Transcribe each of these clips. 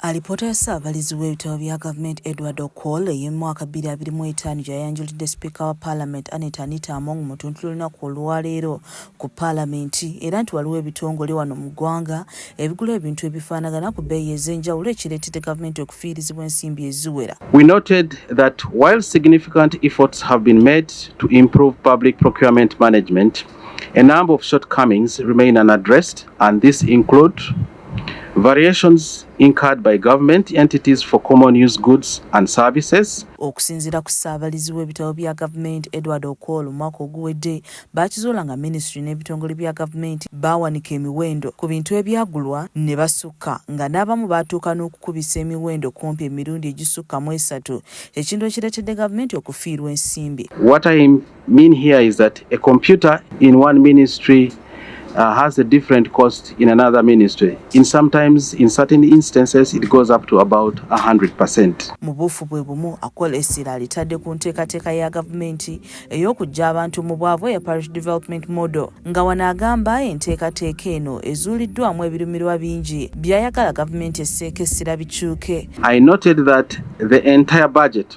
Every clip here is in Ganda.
Alipoota ya Ssaabalizi w'ebitabo bya gavumenti Edward Okol ey'omwaka 2025 gyayanjulidde sipiika wa paalamenti Annet Anita Among mu tuntu lunaku olwaleero ku paalamenti era nti waliwo ebitongole wano mu ggwanga ebigula ebintu ebifaanagana ku bbeeyi ez'enjawulo ekireetedde gavumenti okufiirizibwa ensimbi eziwera. We noted that while significant efforts have been made to improve public procurement management, A number of shortcomings remain unaddressed, and these include variations incurred by government entities for common use goods and services. Okusinzira ku ssaabalizi w'ebitabo bya gavumenti Edward Okwol omwaka oguwedde baakizuula nga minisitule n'ebitongole bya gavumenti baawanika emiwendo ku bintu ebyagulwa ne basukka nga n'abamu baatuuka n'okukubisa emiwendo kumpi emirundi egisukka mu esatu ekintu ekireetedde gavumenti okufiirwa ensimbi. mean here is that a computer in one ministry uh, has a different cost in another ministry. In sometimes, in certain instances, it goes up to about 100%. Mu buufu bwe bumu akola essira alitadde ku nteekateeka ya gavumenti ey'okuggya abantu mu bwavu eya parish development model nga wano agamba enteekateeka eno ezuuliddwamu ebirumirwa bingi by'ayagala gavumenti esseeko essira bikyuke. I noted that the entire budget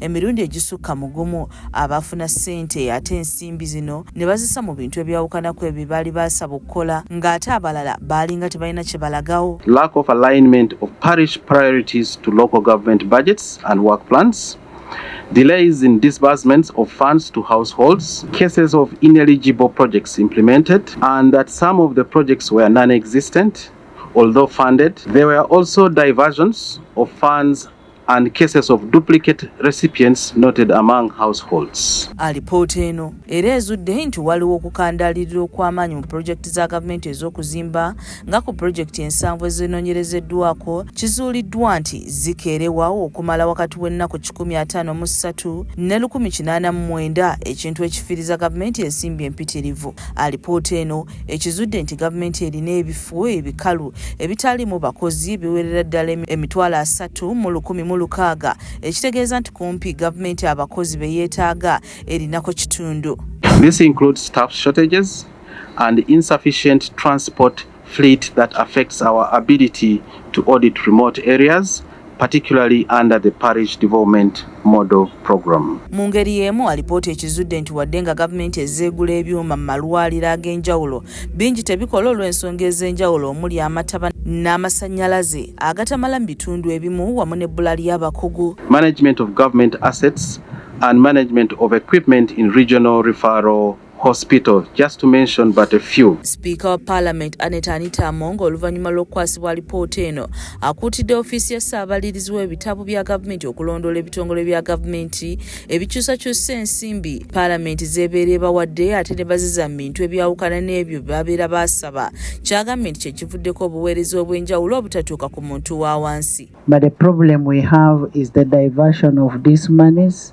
emirundi egisukka mu gumu abaafuna ssente ate ensimbi zino ne bazisa mu bintu ebyawukanaku ebyo baali baasaba okukola ng'ate abalala baalinga tebalina kye balagawo lack of alignment of parish priorities to local government budgets and work plans delays in disbursements of funds to households, cases of ineligible projects implemented, and that some of the projects were non existent, although funded. There were also diversions of funds and cases of duplicate recipients noted among households. Alipoota eno era ezudde nti waliwo okukandaalirira okw'amaanyi mu pulojekiti za gavumenti ez'okuzimba nga ku pulojekiti ensanvu ezinoonyerezeddwako kizuuliddwa nti zikeerewawo okumala wakati w'ennaku kikumi ataano mu ssatu ne lukumi kinaana mu mwenda ekintu ekifiiriza gavumenti ensimbi empitirivu. Alipoota eno ekizudde nti gavumenti erina ebifo ebikalu ebitaalimu bakozi biwerera ddala emitwalo asatu mu lukumi mu lukaaga ekitegeeza nti kumpi gavumenti abakozi be yeetaaga erinako kitundu This includes staff shortages and insufficient transport fleet that affects our ability to audit remote areas particularly under the parish development model program. Mu ngeri y'emu alipoota ekizudde nti wadde nga gavumenti ezeegula ebyuma mu malwaliro ag'enjawulo bingi tebikola olw'ensonga ez'enjawulo omuli amataba n'amasannyalaze agatamala mu bitundu ebimu wamu n'ebbula ly'abakugu management of government assets and management of equipment in regional referral hospital just to mention but a few speaker wa parliament aneta anita among oluvannyuma lw'okukwasibwa alipoota eno akuutidde ofiisi ya ssaabalirizi w'ebitabo bya gavumenti okulondoola ebitongole bya gavumenti ebikyusakyusa ensimbi parliament zeebeera ebawadde ate ne baziza mu bintu ebyawukana n'ebyo babeera baasaba kyagambye nti kyekivuddeko obuweereza obw'enjawulo obutatuuka ku muntu wa wansi but the problem we have is the diversion of these monies